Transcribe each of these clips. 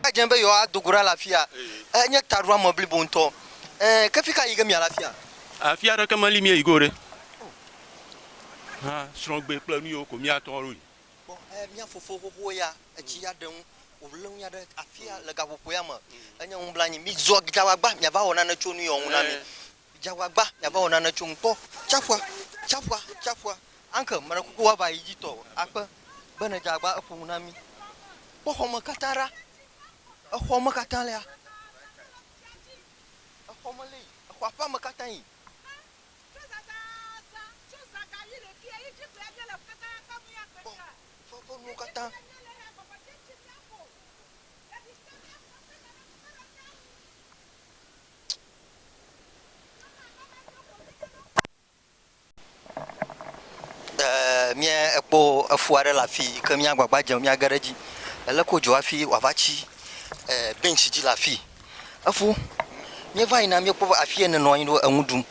Eya dze be yewoado go ɖa le afia. Enye taɖoame blibo ŋutɔ. Ẽ, ke fi ka yi ge miale afia? Afi aɖeke meli míeyi ge o ɖe. O. Hã, srɔ̃gbe kple nu yiwo ko míatɔ aɖo yi. Kpɔ, ẽ, mía fofo xoxowo ya, etsi ya ɖe nu wòlé ŋu aɖe afia le gaƒoƒo ya me. Enye nublanui. Mizɔ dzagbagba miava wɔ nane tso nu yiwo ŋu na mí. Dze agbagba miava wɔ nane tsom kpɔ tsaƒua, tsaƒua, tsaƒua. Uncle, meɖe kuku woava yi dzi tɔ akpe be nèdze agbagba eƒo nu na mí. Kpɔ xɔme katã ɖa. Exɔ me katã lea. Exɔ me lea. Exɔa ƒe ame katã yi. Kpɔ eƒe nuwo katã. Eeeee mía ekpɔ efu aɖe le afii yike mía agbagba dzem míage ɖe edzi. Eleke wodzɔ hafi wòava tsi eeeeee bentsi dzi le afii. Efo míeva yina míekpɔ be afi yɛ nenɔ anyi ɖo enu ɖum.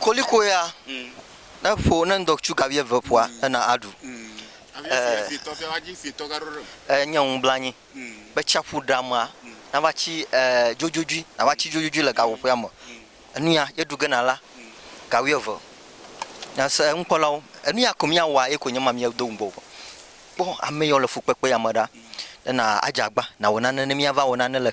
Koliko ya ne ƒo ne ŋdɔ tsu gavi eve ƒoa ena aɖu. Enye ŋublanyi be tsiaƒu ɖamea nava tsi dzodzodzi nava tsi dzodzodzi le gaƒoƒoea me. Enuya ye ɖu gena la gawi eve nase enukpɔlawo enuya ko mia wɔa ye ko nye ma mia do ŋgɔ o. Kpɔ ame yɔ le fukpekpe ya me ɖa ena adze agba nawɔ nane ne mia va wɔ nane le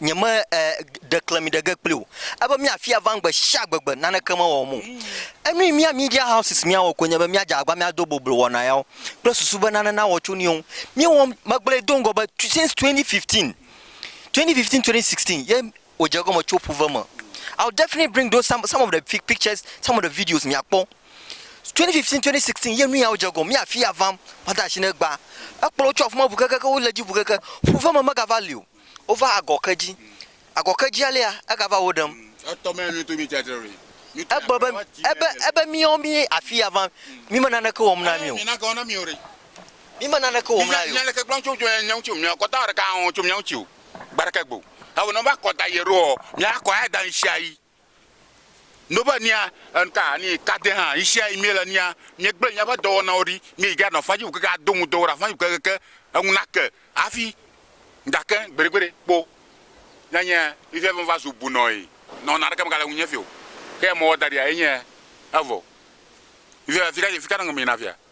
Nyeme e ɖe klemi ɖe ge kpli o. Ebe mía fia vam gbe shia gbe gbe naneke me wɔm o. Enu yi mía media houses mía wɔ koe nye be mía dze agba mía do boblo wɔna yawo kple susu be nane nawɔ tso niwo ŋu. Mía wɔm, me gblɔe do ŋgɔ be since 2015, 2015, 2016 ye wò dze egɔme tso ƒuve me. I will definitely bring those some, some of the fi, pictures, some of the videos mia kpɔ. 2015, 2016 ye nu yawo dze egɔme. Mía fia vam, ma da shi ne gba. Ekplɔ wo tso afima ʋu keke ke wo le dzi ʋu keke. Ƒuve me mega va li o. wova agɔkedzi. Agɔkedzia lea, egava wo ɖem. Egblɔ be, Ebe, ebe míawo mí afi ya va, mí me naneke wɔm na mí o. Mí me naneke wɔm na ye o. No be nia ŋka ni kade hã yi sia yi miele nia miegble miaƒe dɔwɔnawo ɖi mi yi ga nɔ fadzi wukeke ado ŋu dɔwɔ ɖe afadzi wukeke ke eŋu na ke afi gake gbeɖegbeɖe kpo ne nye mi fia be va zu bunɔe nɔ na ɖeke me gale ŋu nye fio ke mɔwɔ daɖia ye nye evɔ mi fia fika fika nɔ ŋu mi na fia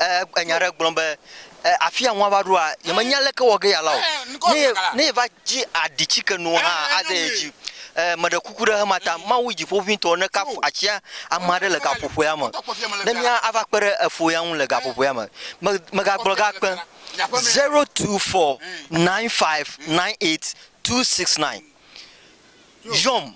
Ee, enya aɖe gblɔm be, Ee, afia ŋu ava ɖoa, yemenya leke wɔ ge yealã o. Ne ye, ne yeva dzi aɖi tsike nu hã ade ye dzi. Ee, meɖe kuku ɖe xema ta, Mawu Dziƒoʋĩtɔ nekafu atsia ame aɖe le gaƒoƒoea me, ne mía ava kpe ɖe efo ya ŋu le gaƒoƒoea me. Me, megagblɔ ga kpe. Zero two four nine five nine eight two six nine. Yɔm.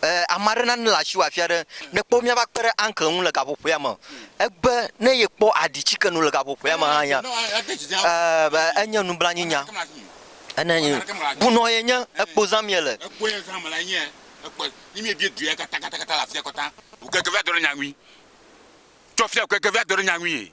Eh, ame aɖe nane le asiwò afi aɖe. Ne kpɔ míava kpe ɖe Uncle ŋu le gaƒoƒoea me. Egbe ne yekpɔ aɖi ci ke nu le gaƒoƒoea me hã ya. Eh, be enye nublanuinya. Ene nye bunɔ ye nye ekpo zãm ye le. Ekpo ye zãm le nye ekpo. Ni mi ebie dua katã katã katã le afia kɔtã. Wò keke va dɔ ɖe nya ŋui. Tsɔ fia wò keke va dɔ ɖe nya ŋui.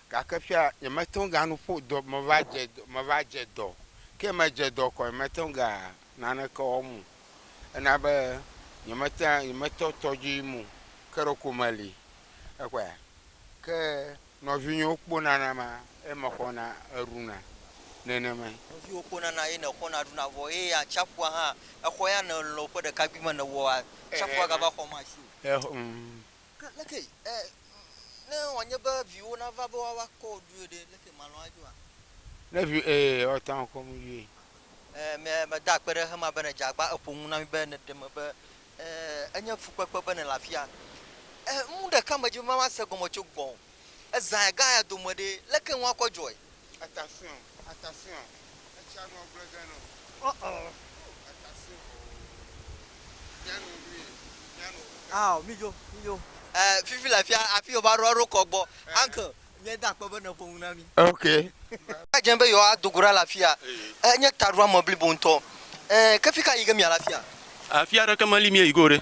Gake fia nyemete ŋu ganu ƒo dɔ meva dze meva dze dɔ ke medze dɔ kɔ nyemete ŋu ga naneke wɔm o. Ena be nyemete nyemetɔ tɔdzi yim o ke ɖeko meli ekpɔa ke nɔvinyewo kpo nana ma ye mexɔna eɖuna nenemae. Nɔviwo kpo nana ye nexɔna ɖuna vɔ eye atsiaƒua hã exɔ ya nèlɔ ƒe ɖekakpuime nèwɔa atsiaƒua gava xɔ ma asi o. Eɔ ŋ Ke leke e, ne wòanye be viwo nava be woava kɔ wò ɖoe ɖe, leke màlɔ̃ adzoa? Ne vi, e, woate ŋu akɔ nu ɖoe. E, me, meda akpe ɖe xexea me be nèdze agba, èƒo nu na mí be nèɖe eme be, e, enye fukpekpe be nèle afia. E, nu ɖeka medzi be mava se gɔme tso gbɔwò. Ezãe gã ya dome ɖe, leke ŋu akɔ dzɔe? Atafiɔ̃, atafiɔ̃, etsia nua gblɔe ge nɔ. Ɔɔɔɔɔ. Atafiɔ̃ oo. Mía no nu ye, mía no nu ka. Ao, mídzo, mídzo. Ɛɛ, fifi le afia, afi yewova ɖo, eɖo kɔ gbɔ. Uncle, míeda akpe be nèƒo nu na mí. Ok. Eva dze be yewoado go ɖa le afia. Ɛɛ, nye taɖoame blibo ŋutɔ. Ɛɛ, ke fika yi ge míale afia? Afi aɖeke meli míeyi ge o ɖe.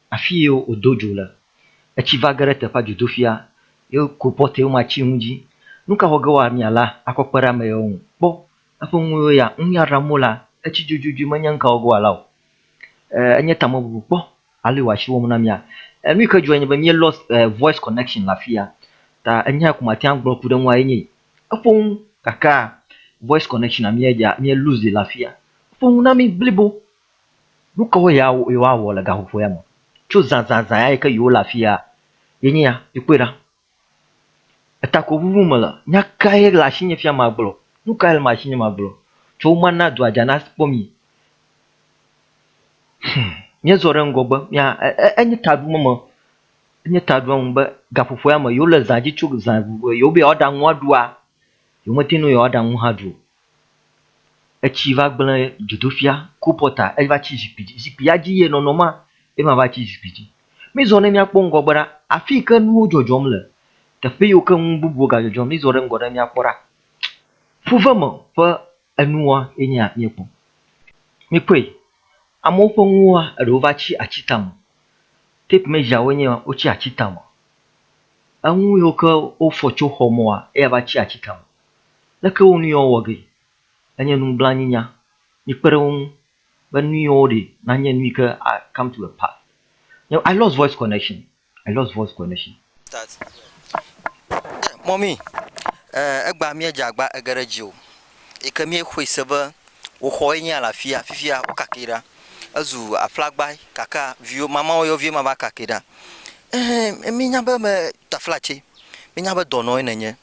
Afi ye wòdo dzo le. Etsi va ge ɖe teƒea dzodofia, ye wòku pɔtɛwo ma tsi ŋu dzi. Nu ka wɔ ge wòa mia la akɔ kpe ɖe ame yawo ŋu? Kpɔ eƒe nuwo ya. Nu ya ɖam wolea, etsi dzodzodzoe menye nu ka wɔ ge wòala o. Ee, enye tamebubu. Kpɔ ale wòatsi wo wɔm na mia. Ee, nu yi ke dzɔe nye be mía lost voice connection le afi ya. Ta enya ya ko mate ŋu agblɔ ku ɖe eŋua ye nye yi. Eƒo nu gakea voice connection mía dza, mía lose le afi ya. Eƒo nu na mí blibo Nu kawoe ya yewoawɔ le gaƒoƒo ya me? Tso zãzãzã ya yi ke yewole afia yenye ya. Mikpɔe ɖa. Etako ŋuŋum mele. Nya kae le asinye fia magblɔ? Nu kae le asinye magblɔ? Tsɔ wo mana dua dza nakpɔ mi. Hum! Míezɔ ɖe ŋgɔgbe. Mía, e, enye ta ɖom eme. Enye ta ɖom eme be gaƒoƒo ya me, yewole zã dzi tso zã vovovo. Yewobe yewoaɖa nu aɖua, yewomete ŋu yewoaɖa nu hã aɖu o. Etsi va gblẽ dzodoƒia, kolpɔta, eva tsi zikpui dzi. Zikpuia dzi ye nɔnɔm maa, ye ma va tsi zikpui dzi. Mizɔ ne míakpɔ ŋgɔgbe ɖa, afi yi ke nuwo dzɔdzɔm le, teƒe yiwo ke nu bubuwo ga dzɔdzɔm. Mizɔ ɖe ŋgɔ ne míakpɔ ɖa. Fuveme ƒe enuwoa ye nye ya míekpɔ. Mikpɔe, amewo ƒe nuwoa, eɖewo va tsi ati tame. Tape measure-woe nye ma, wotsi ati tame. Enu yiwo ke wofɔ tso xɔ me woa, eya va tsi ati tame. Leke wo nuyiwo wɔ ge enye nublanuinya? Mikpe ɖe wo ŋu be nuyiwo woɖe nanye nuyi ke a come to a pass. Nyo, I lost voice connection, I lost voice connection. Start yeah mummy eh egbea mía dze agba ege ɖe edzi o eyi ke mía xɔe se be wò xɔ ye nye alafia fifia wo kake ɖa ezu aƒlagba gake viwo mamawo yɔ vie ma va kake ɖa eh mí nya be me taflatse mí nya be dɔnɔe nènye.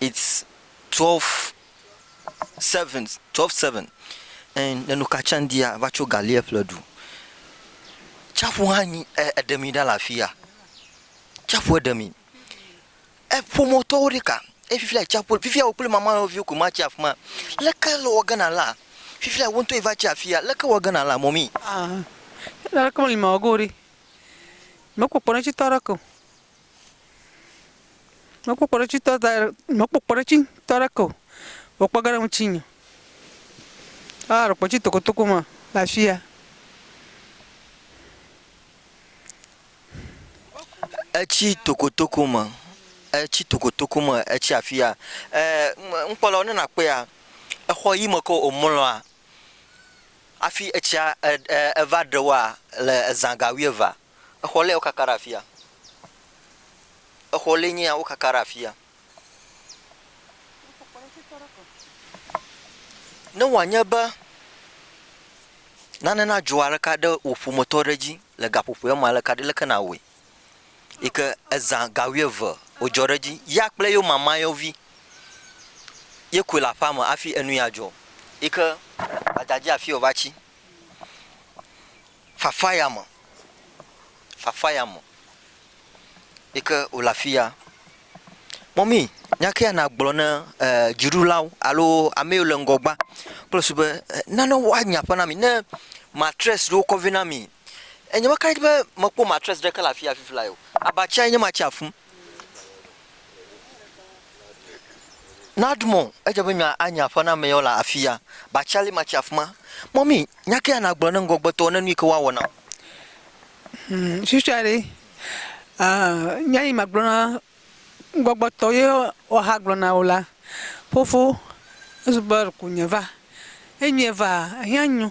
it's twelve seven twelve seven and le nu ka tsam dia va tso gali eƒle ɖu tsaƒu hã nyi e eɖe mi ɖa le afia tsaƒuɛ ɖe mi e ƒometɔwo ɖika ye fifia tsaƒu fifia wò kple mama nɔviwo ko ma tsi afima leke le wɔge na la fifia wò ŋtɔ yi va tsi afia leke le wɔge na la mɔmi. Aa leke meli mawɔge o ɖi mekpɔ kpɔɖeŋutsi tɔ ɖeke o. Mekpɔ kpɔɖetsitɔ da ɖe, mekpɔ kpɔɖetsitɔ ɖe ke o. Vɔ kpɔ ge ɖe ŋutinye. Aa ɖe kpɔtsi tokotoko ma le afi ya. Etsi tokotoko me, etsi tokotoko me etsi afi ya. Ee ŋkpɔ lɔ ne nakpɔea, exɔ yi me ke womlɔa hafi etsia eva ɖe woa le eza ga wuieve Exɔ lee wokaka ɖe afia. Exɔ lee nyea wokaka ɖe afia. Ne wòanye be nane nadzɔ aleka ɖe wò ƒometɔ ɖe dzi le gaƒoƒoea me aleka ɖe, leke nàwɔe? Yi ke ezã ga wuieve wòdzɔ ɖe edzi. Ya kple yewo mamayɔvi ye koe le aƒea me hafi enu ya dzɔ. Yi ke gbadadzea afi wòva tsi. Fafa ya me, fafa ya me yi ke wòle afi ya. Mɔmi, nya kae nàgblɔ na dziɖulawo alo ame yiwo le ŋgɔgbea kple susu be nane woanye aƒe na mi ne matress ɖewo kɔ vɛ na mi? Enye be kaɖi be mekpɔ matress ɖeke le afi ya fifi lae o. Abatsia nye ma tse afũ. Nadmo, edze be nya anye aƒename ye wole afia. Batsali ma tsi afima. Mɔmi, nya ke ya nagblɔ ne ŋgɔgbetɔwo ne nuyi ke woawɔ nam. Hum, susuɛ ɖe, uh, nya yi magblɔ na ŋgɔgbetɔwo ye woaha gblɔ na wo la, fofo, ezu be ku nye va. Enyuie va? Ehiã nyu.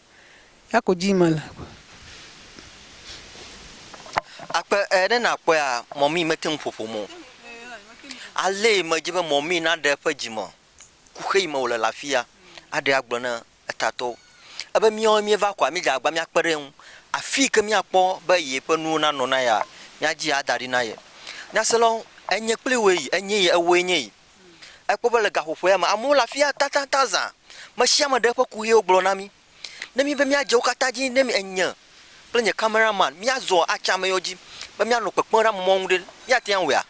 Eya ko dim mele. Akpe e ɖe nakpɔea mɔmii mete ŋu ƒo ƒom o. Alee medze be mɔmii naɖe eƒe dzime ku xeyi me wòle le afia aɖee agblɔ na etatɔwo. Ebe míawo míeva koa, míedze agbagba míakpe ɖe eŋu. Afi yi ke míakpɔ be yeƒe nuwo nanɔ na yea, míadzi ada ɖi na ye. Nyaselawo, enye kpli wòe yi, enye ye, ewòe nye yi. Ekpɔ be le gaƒoƒoea me, amewo le afia tatataŋ zã. Me sia me ɖe eƒe kuxiwo gblɔ na mí. Ne míebe míadze wo katã dzi ne mi, enye kple nye cameraman míazɔ atsi ameyɔ dzi be míanɔ kpekpem ɖe amemɔ̃ ŋu ɖe, míate ŋu awɔea?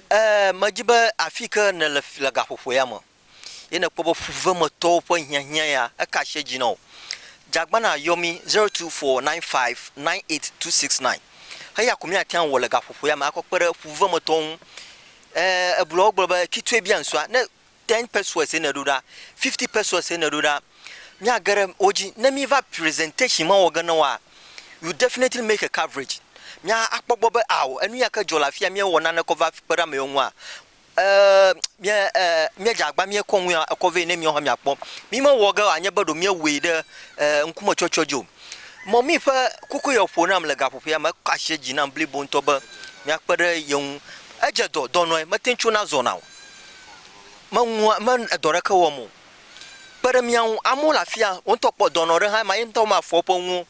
Ɛɛ, medi be afii ke nèle le gaƒoƒoea me. ye nèkpɔ be ƒuvemetɔwo ƒe hiahiã ya, eka asi edzi na wò. Dzagbana yɔ mí, zero two four nine five nine eight two six nine. Eya ko míate ŋu awɔ le gaƒoƒo ya me akɔ kpe ɖe ƒuvemetɔwo ŋu. E, ebluɔ wogblɔ be kitsoe bia ŋsua, ne ten pesos ye nèɖo ɖa, fifty pesos ye nèɖo ɖa, míage ɖe wo dzi. Ne míva presentation ma wɔ ge na woa, you definitely make a coverage. Mía akpɔ gbɔ be ao enu ya ke dzɔ le afia míewɔ nane kɔ va kpe ɖe ame yewo ŋua, E, mía, e, míedze agba, míekɔ ŋu ya ekɔ vɛ ne míawo hã míakpɔ. Mímewɔ ge wòanye be ɖo míewɔe ɖe e, ŋkumetsɔtsɔ dzi o. Mɔmi ƒe kuku ye wòƒo nam le gaƒoƒea me. Ekɔ asi dzi nam blibo ŋutɔ be míakpe ɖe ye ŋu. Edze dɔ, dɔ nɔe, mete ŋu tsona zɔna o. Meŋu, me edɔ ɖeke wɔm o. Kpe ɖe mía ŋu. Amewo le afia, wò ŋutɔ kpɔ dɔnɔ ɖe hã ema, ye ŋutɔ mafɔ eƒe nuwo.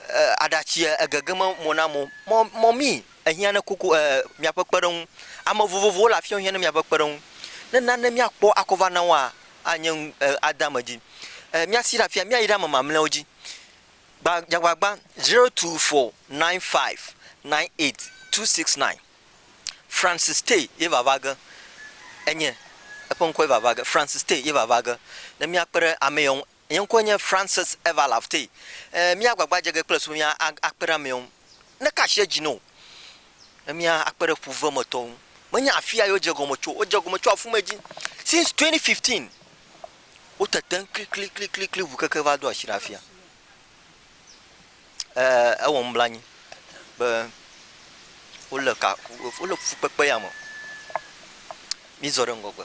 E, aɖatsi egege me mo nam o. Mɔ, mɔmi, Ehiã ne kuku, e, miaƒe kpeɖeŋu. Ame vovovowo le afiawo hiã ne miaƒe kpeɖeŋu. Ne nane míakpɔ akɔ va na woa, anye nu, e, ade ame dzi. E, míasi ɖe afia, míayi ɖe ame mamlɛawo dzi. Gba, dzagbagba, zero two four nine five nine eight two six nine. Francis Tay ye vava ge enye. Eƒe ŋkɔe vava ge. Francis Tay ye vava ge. Ne míakpe ɖe ameyɔ ŋu. Nye ŋkɔe nye Francis Eva Lafte. E, mía agbagba dze ge kple subɔsubɔmía a, akpe ɖe amewo ŋu. Neka asi edzi na wò be mía akpe ɖe ƒuvemetɔwo ŋu. Menye afia ye wodze gɔme tso o. Wodze gɔme tso afumɛ dzi. Since 2015, wo tetem kliklikliklikli ŋu keke va do asi ɖe afia. Ɛɛ, ewɔ nublanui be wole ka, wole fukpekpe ya me. Mízɔ ɖe ŋgɔgbe.